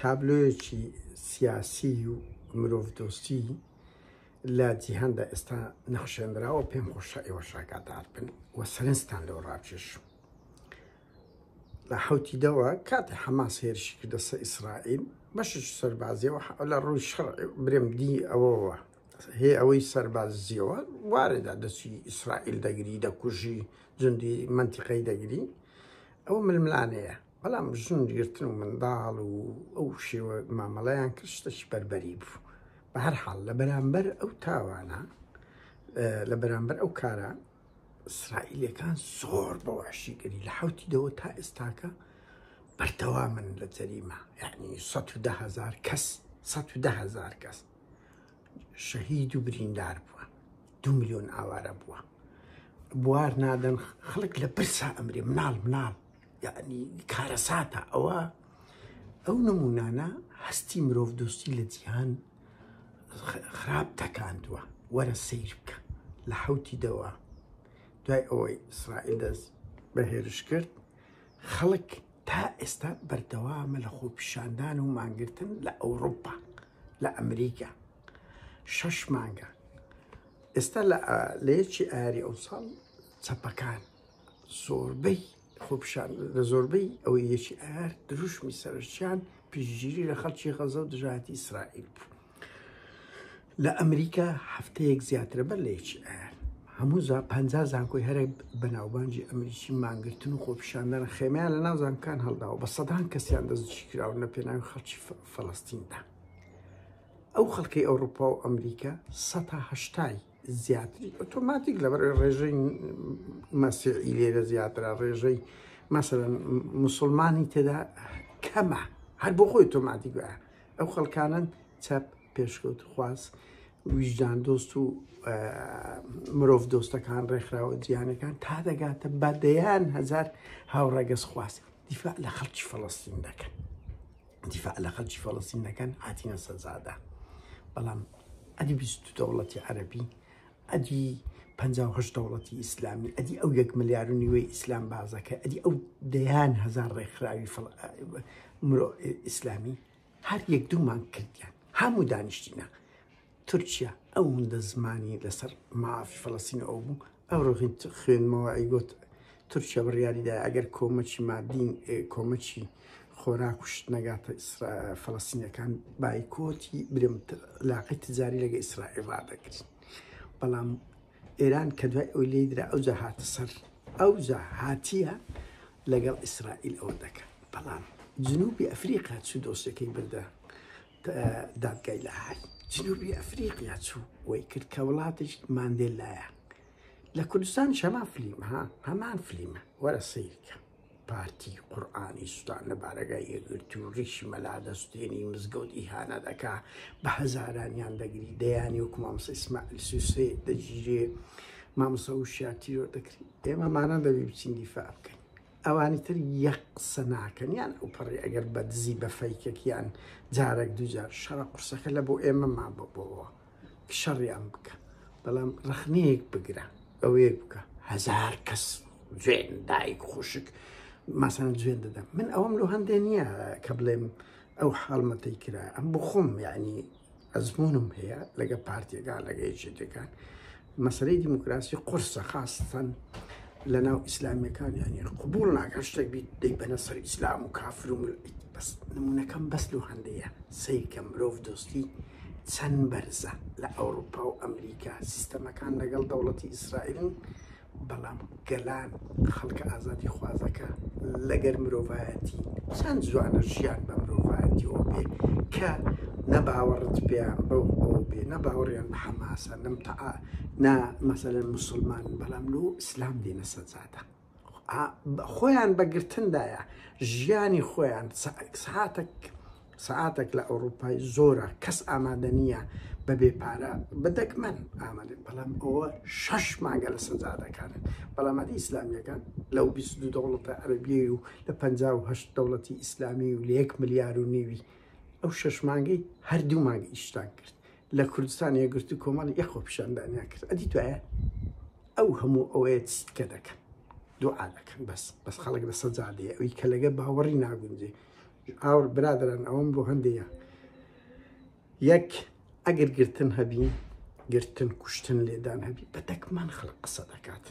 تابلۆیەکی سیاسی و مرۆڤ دۆستی لە جیهاندا ئێستا نەخشێنراوە پێم خۆشە ئێوە شاکاتار بن و سەرنجتان لەوە ڕاکێش لە حوتی دەوە کاتی حەماس هێرشی کردە سە ئیسرائیل بەشش سەربازیەوە لە ڕووی شەڕ برێم دی ئەوەوە هێ ئەوەی سەربازیەوە وارێدا دەچی ئیسرائیل دەگری دەکوژی جندی منتیقەی دەگری ئەو ململانەیە بەڵام ژن گرتن و منداڵ و ئەو شێوە مامەڵەیان کرد شتەکی بەربەری بوو بە هەر حاڵ لە بەرامبەر ئەو تاوانە لە بەرامبەر ئەو کارە ئیسرائیلەکان زۆر بە وحشیگەری لە حوتی دەوە تا ئێستاکە بەردەوا من لە جەریمە یعنی هزار کەس هزار کەس شەهید و بریندار بووە دو میلیۆن ئاوارە بووە بوار نادەن خەڵک لە پرسا ئەمرێ مناڵ مناڵ یعنی کارەساتە ئەوە ئەو نمونانە هەستی مرۆڤ دۆستی لە جیهان خراپ تەکاندووە وەرە سیر بکە لە حوتی دەوە دوای ئەوەی ئیسرائیل دەست بە هێرش کرد خەڵک تا ئێستا بەردەوامە لە خۆپیشاندان و مانگرتن لە ئەوروپا لە ئەمریکا شەش مانگە ئێستا لە یەکی ئاری ئەو ساڵ چەپەکان زۆربەی خۆپشان لە زۆربەی ئەوەی یەکی ئار دروشمی سەرچیان پیشگیری لە خەڵکی غەزە و دژاتی ئیسرائیل بوو لە ئەمریکا هەفتەیەک زیاترە بەر لە یەکی ئار هەموو پ زانکۆی هەرە بەناوبانجی ئەمریکی مانگرتن و خۆپیشاندانە خێمیان لە ناوزانکان هەڵداوە بە سەدان کەسیان دەستجی کراون لە پێناوی خەڵکی فلستیندا ئەو خەڵکی ئەوروپا و ئەمریکا سەهشتای زیاتری ئۆتۆماتیک لەبەر ڕێژەی مەسیعی لێرە زیاترا ڕێژەی مەسەرەن مسلمانی تێدا کەمە هەر بۆ خۆی تۆماتی گوە ئەو خەڵکانن چەپ پێشکەوت خواز ویژدان دۆست و مرۆڤ دۆستەکان ڕێکخراوە جیانەکان تا دەگاتە بەدەیان هزار هاوڕەگەز خواست دیفاع لە خەڵکی فەڵستین دەکەن دیفاع لە خەلکی فەڵەستین دەکەن هاتینە سەرزادا بەڵام ئەدی بیست دەوڵەتی عەربی ئەدی پهشت دەوڵەتی ئیسلامی ئەدی ئەو یەک ملیار و نیوەی ئیسلام بازەکە ئەدی ئەو دەیان هزار ڕێکخراوی مرۆ ئیسلامی هەر یەک دوومان کردیان هەموو دانیشتینە تورکیا ئەوندە زمانی لەسەر مافی فلسین ئەو بوو ئەو ڕۆژین خوێنمەوە ئەیگوت تورکیا بڕیاریدا ئەگەر کۆمەچی مادین کۆمەچی خۆراک و شتنەگاتە فلسینەکان بایکۆتی برم لاقی تجاری لەگە ئیسرائیل ڕدەکرد بەڵام ئێران کە دوای ئەو لی درا ئەو جا هاتە سەر ئەو جا هاتیە لەگەڵ ئیسرائیل ئەوە دەکەن بەڵام جنوبی ئەفریقا چ دۆسەکەی بردە دادگای لاهای جنوبی ئەفریقیا چوو وەی کرد کە وڵاتیش ماندێل لایە لە کوردستان شەما فلیم ها هەمان فلیمە وەرە سیرکە پارتی قورآانی سوستان لە بارەگای یەگرتی و ڕیشی مەلا دەستێنی مزگەوت ئیهانە دەکا بە هەزارانیان دەگری دەیانی وەکو مامسە ئیسماعیل سوسێ دەگیرێ مامسە و شاتیرۆ دەکری ئێمەمانە دەبی بچین دیفاع بکەین ئەوانی تر یەک قسە ناکەن یان ئەو پەڕی ئەگەر بە دزی بە فەیکەک یان جارەک دووجار شەڕە قورسەکە لە بۆ ئێمە ما بەبەوە کە شەڕیان بکە بەڵام ڕخنەیەک بگرە ئەوەیەک بکە هزار کەس جوێن دایک خوشک ماسان جوێن دەدەم من ئەوم لۆ هەندێ نییە کە بڵێم ئەو حاڵمەتەی کرا ئەم بخۆم یعنی ئەزمونم هەیە لەگە پارتیەکان لەگە یەکێتەکان مەسلەی دیموکراسی قرسە خاستەن لە ناو ئیسلامیەکان یانی قوبول ناکە شتێک بیت دەی بەە سەر ئیسلام و کافر و بەس نمونونەکەم بەس لە هەندەیە سیرکە مرۆڤ دۆستی چەند بەرزە لە ئەوروپا و ئەمریکا سیستەمەکان لەگەڵ دەوڵەتی ئیسرائیلن بەڵام گەلان خەڵکە ئازادی خوازەکە لەگەر مرۆڤایەتین چەند جوانە ژیان بە مرۆڤایەتیەوە بێ کە نە باوەڕت پێیان بەو ئەوە بێ نە باوەڕیان بە حەماسە نەم تەعا نا مەسەلەن مسلمان بەڵام لۆ ئیسلام دێنە سەجادە خۆیان بەگرتندایە ژیانی خۆیان ساعتەک سەعاتەک لە ئەوروپای زۆرە کەس ئامادە نییە بەبێ پارە بە دەگمەن ئامادەن بەڵام ئەوە شەش مانگە لە سەجادەکانن بەڵاماتی ئیسلامیەکان لەو 22 دەوڵەتە عەربیە و لە 58 دەوڵەتی ئیسلامی و لە یەک ملیار و نیوی ئەو شەش مانگەی هەردوو مانگ ئیشتان کرد لە کوردستان یەگرت و کۆمەڵ یەخۆ پیشاندانیان کرد ئەدی دوایە ئەو هەموو ئەوەیە چیت کە دەکەن دوعا دەکەن بەس بەس خەڵک لە سەجادەیە ئەوی کە لەگە باوەڕی ناگونجێ ئاوڕ برادران ئەوەم بۆ هەندەیە یەک ئەگەر گرتن هەبی گرتن کوشتن لێدان هەبی بە دەکمان خەڵک قسە دەکات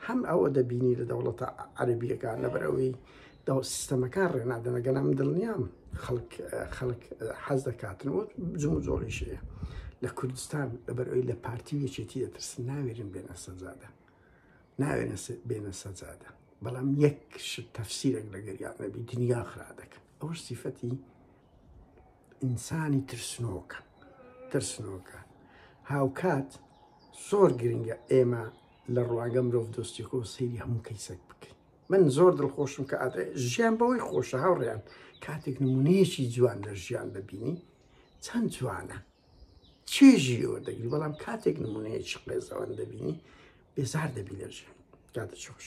هەم ئەوە دەبینی لە دەوڵەتە عەربیەکان لەبەرەوەی داو سیستەمەکان ڕێنادەنەگەنا من دڵنیام خەڵک خەڵک حەز دەکاتن و جم و جۆڵیشەیە لە کوردستان لەبەرەوەی لە پارتی یەکێتی دەترسن ناوێرن بێنە سەرزادە ناوێنە بێنە سەجادە بەڵام یەک شت تەفسیرێک لەگەریان نەبی دنیا خرا دەکەن ئەوش سیفەتی ئینسانی ترسنۆکە ترسنۆکە هاوکات زۆر گرنگە ئێمە لە ڕواگە مرۆڤ دۆستیەکە و سەیری هەموو کەیسەک بکەین من زۆر دڵخۆشم کە ئاات ژیان بەوەی خۆشە هاوڕێیان کاتێک نمونەیەکی جوان لە ژیان دەبینی چەند جوانە چێژی لێ وەردەگری بەڵام کاتێک نمونەیەکی قێزەوەن دەبینی بێزار دەبی لەژیان کاتە چۆش